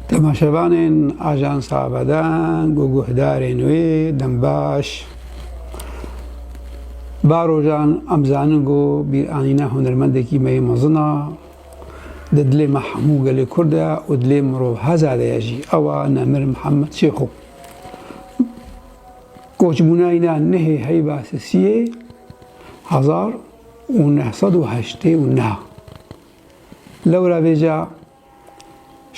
Temaşevanên Ajansa Bedan û guhdarên wê dem baş ba rojan em zanin ku bîranîna hunermendekî me yê mezin a di dilê me hemû gelê Kurd de û dilê mirovheza de ye jî ew a Nemir Mihemed Şêxo. Koçbûna îna nehê heyba sisiyê hezar û neh sed û heştê û neh Lewra vêca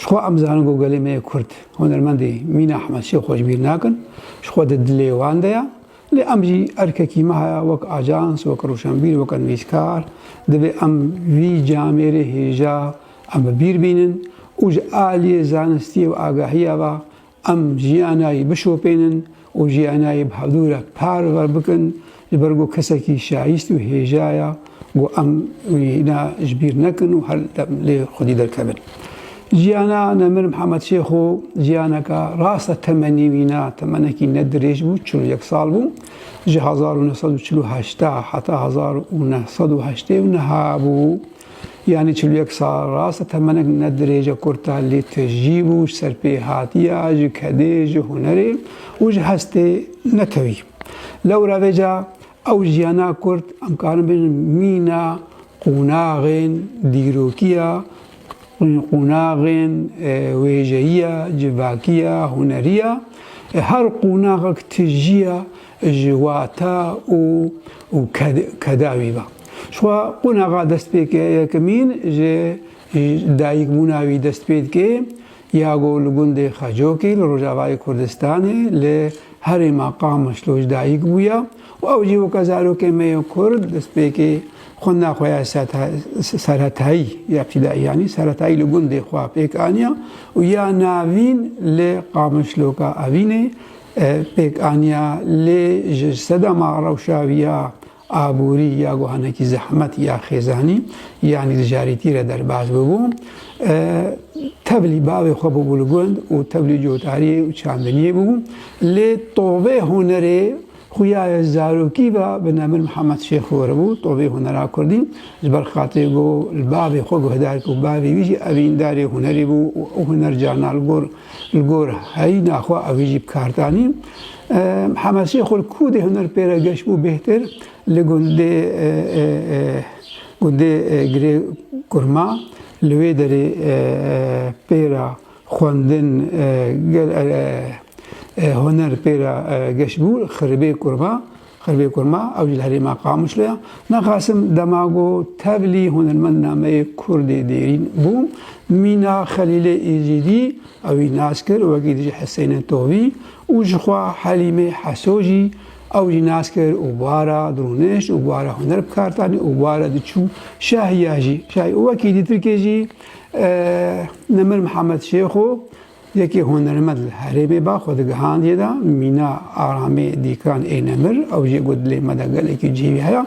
Ji xwe em zanin ku gelê me yê Kurd hunermendê Mîna Ahmed Şêx xwe ji bîr nakin, ji xwe di dilê wan de ya. Lê em jî erkekî me heye wek ajans, wek rûşenbîr, wek nivîskar divê em vî camêrê hêja em bi bîr bînin û ji aliyê zanistiyê û agahiya ve Em jiyanayî bişopênin û jiyanayî bi hevdû re parve bikin ji ber ku kesekî şayîst û hêja ye ku em wîna ji bîr nekin û her dem lê xwedî derkevin. Jiyana Nemir Mihemed Şêxo jiyaneke rast e temenî wî ne temenekî ne dirêj bû çil û yek sal bû. Ji hezar û neh sed û çil û heşt heta hezar û neh sed û heştê û neh hebû. Yanî çil û yek sal rast e temenek ne dirêj e kurta lê tecrîb û ji ser pê hatiya, ji kedê, ji hunerê û ji hestê netewî. Lewra vê ca ew jiyana kurd em karin bijîn mîna qûnaxên dîrokiya, qûnaxên wêjeyiya, civakiya, huneriya. Her qûnaxek tijîya ji wata û û keda wî ve. Şwa qonaxa dest pê ke yekemîn ji dayikbûna wî dest pê dike ya ku li gundê Xecokî li Rojavayê Kurdistanê li herêma Qamişlo ji dayik bûye û ew jî weke zarokê me yê Kurd destpêkê xwendina xwe ya serhetayî ya pîdayî yanî serhetayî li gundê xwe pêk aniye û ya navîn li Qamişloka Evînê Pêkaniya lê ji sedema rewşaviya aborî ya guha nekî zehmet ya xêzanî yanî dijarîtî re derbas bûbû. Tevlî bavê xwe bûbû li gund û tevlî cotariyê û çandiniyê bûbû. Lê tovê hunerê xuya ye zarokî ve bi Nemir Mihemed Şêx Hori bû, tovê hunera kurdî. Ji ber xatirê ku li bavê xwe guhdar ku bavê wî jî evîndarê hunerê bû û ew huner carna li gor Li gor heyîna xwe ew ê jî bikar danî. Hemesê xwe li ku dê huner pê re geş bû bêhtir li gundê gundê girê kurma li wê derê pê re xwendin gel huner pê re geş bû xiribê kurma. Xirvê Kurma, ew jî li herêma Qamişlo ye. Me Qasim dema ku tevlî hunermend nameyê Kurdê Dêrîn bû, mîna Xelîlê Îzîdî ew wî nas kir wekî dijî Heseyne Tovî û jixwe Helîmê Heso jî ew jî nas kir û bara dirûnişt û bara huner bi kar tanî û bara diçû şahiya jî şahî û wekî dî Tirkê jî Nemir Mihemed Şêxo Yekê hunermend li herêmê ba xwe digihandiye da mîna aramê dîkiran ê nemir. Ew jî got dilê me de gelekî cihê wî heye.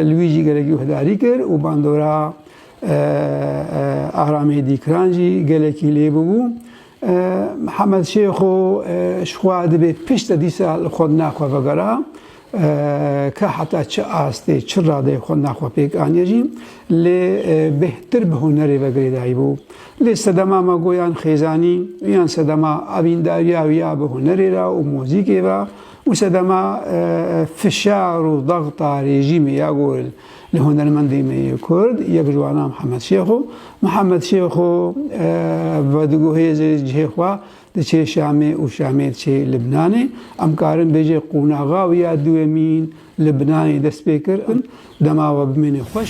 Li wî jî gelekî guhdarî kir û bandora aramê dîkiran jî gelekî lê bûbû. Mihemed Şêxo ji xwe dibê pişt de dîsa li xwe dina xwe vegera. Ka heta çi astê, çi radeyê xwe nav xwe pêk aniye jî lê bêhtir bi hunerê ve girêdayî bû. Lê sedema me go yan xêzanî û yan sedema evîndariya wî ya bi hunerê re û muzîkê ve û sedema fişar û dexta rêjîmê ya go li hunermendê me yê Kurd yek ji wan a Mihemed Şêxo. Mihemed Şêxo vedigohêze cihê xwe Diçe Şamê û Şamê diçe Libnanê. Em karin bêje qonaxa wî ya duwemîn Libnanê dest pê kir. Dema we bimîne xweş.